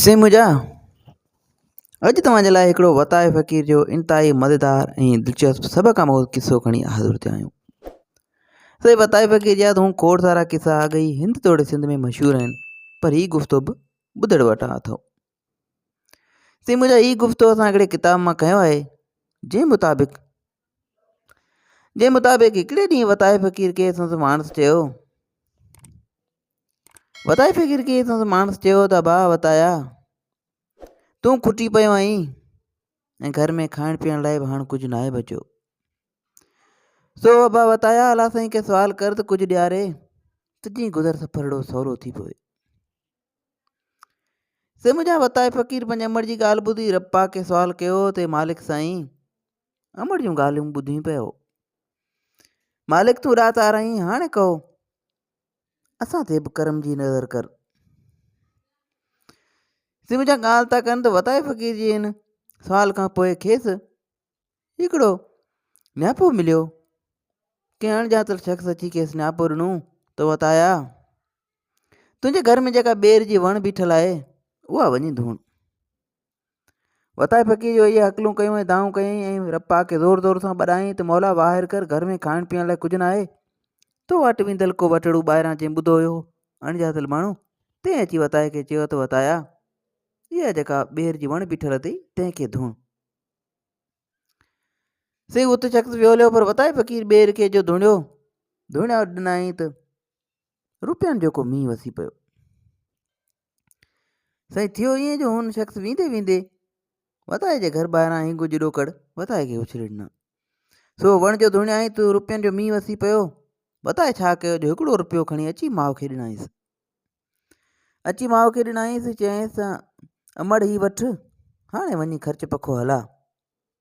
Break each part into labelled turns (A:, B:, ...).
A: سائين منهنجا اڄ توهان جي لاء هڪڙو وتايي فقير جو انتهائي مزيدار ۽ دلچسپ سڀ کان مئو قصو کڻي حاضر ٿيا آهيون سائين وتايي فقير جا تون کوڙ سارا قصا اڳ ئي هند توڙي سنڌ ۾ مشهور آهن پر هي گفتو به ٻڌڻ وٽان اٿو سائين منهنجا هي گفتو اسان هڪڙي ڪتاب مان کنيو آهي جنهن مطابق جنهن مطابق هڪڙي ڏينهن وتايي فقير کي سندس ماڻس چيو وتايي فقير کي سندس ماڻس چيو ته ڀاء وتايا تون کٽي پيو آهين ۽ گهر ۾ کائڻ پيئڻ لاء به هاڻ ڪجهه ناهي بچيو سو ابا وتايا الا سائين کي سوال ڪر ته ڪجهه ڏياري ته جيئن گذر سفرڙو سولو ٿي پوي سي منهنجا وتائي فقير پنهنجي امڙ جي ڳالهه ٻڌي رپا کي سوال ڪيو ته مالڪ سائين امڙ جون ڳالهيون ٻڌيون پيو مالڪ تون رات آرائين هاڻي ڪهو اسان تي به ڪرم جي نظر ڪر. سي منهنجا ڳالهه ٿا ڪن ته وتائي فقير جي هن سوال کان پوء کيس هڪڙو نياپو مليو ڪنهن اڻڄاتل شخص اچي کيس نياپو ڏنو ته وتايا تنهنجي گهر ۾ جيڪا ٻير جي وڻ بيٺل آهي اها وڃي ڌوڻ وتائي فقير جو اهي هڪلون ڪيون ۽ دانهون ڪيائين ۽ رب پاڪ کي زور زور سان ٻڏايائين ته مولا واهر ڪر گهر ۾ کائڻ پيئڻ لاء ڪجهه ناهي تو وٽ ويندل ڪو وٽڙو ٻاهران جنهن ٻڌو هيو اڻڄاتل ماڻهو تنهن اچي وتائي کي چيو ته وتايا اها جيڪا ٻيهر جي وڻ بيٺل اٿئي تنهن کي ڌوڻ سي ات شخص ويوليو پر وتائي فقير ٻير کي جو ڌوڻيو ڌوڻيا ڏنائين ته روپين جو ڪو مينهن وسي پيو سائين ٿيو ائين جو هن شخص ويندي ويندي وتائي جي گهر ٻاهران هينگو جي ڏوڪڙ وتائي کي اڇلي ڏنا سو وڻ جو ڌوڻيائين ته روپين جو مينهن وسي پيو وتائي ڇا ڪيو جو هڪڙو روپيو کڻي اچي ماء کي ڏنائيس اچي ماء کي ڏنائيس چيائيس امڙ هي وٺ هاڻي وڃي خرچ پکو هلا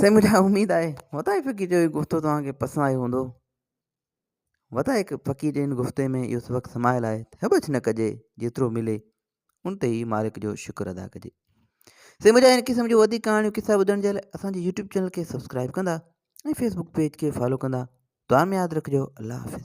A: سائين منهنجي لاء اميد آهي وتايي فقير جو هي گفتو توهان کي پسند آيو هوندو وتايي فقير جي هن گفتي ۾ اهو سبق سمايل آهي ته هٻڇ نه ڪجي جيترو ملي ان تي ئي مالڪ جو شڪر ادا ڪجي سائين منهنجا هن قسم جو وڌيڪ ڪهاڻيون قصا ٻڌڻ جي لاء اسان جي يوٽيوب چينل کي سبسڪرائب ڪندا ۽ فيسبوڪ پيج کي فالو ڪندا دعا ۾ ياد رکجو الله حافظ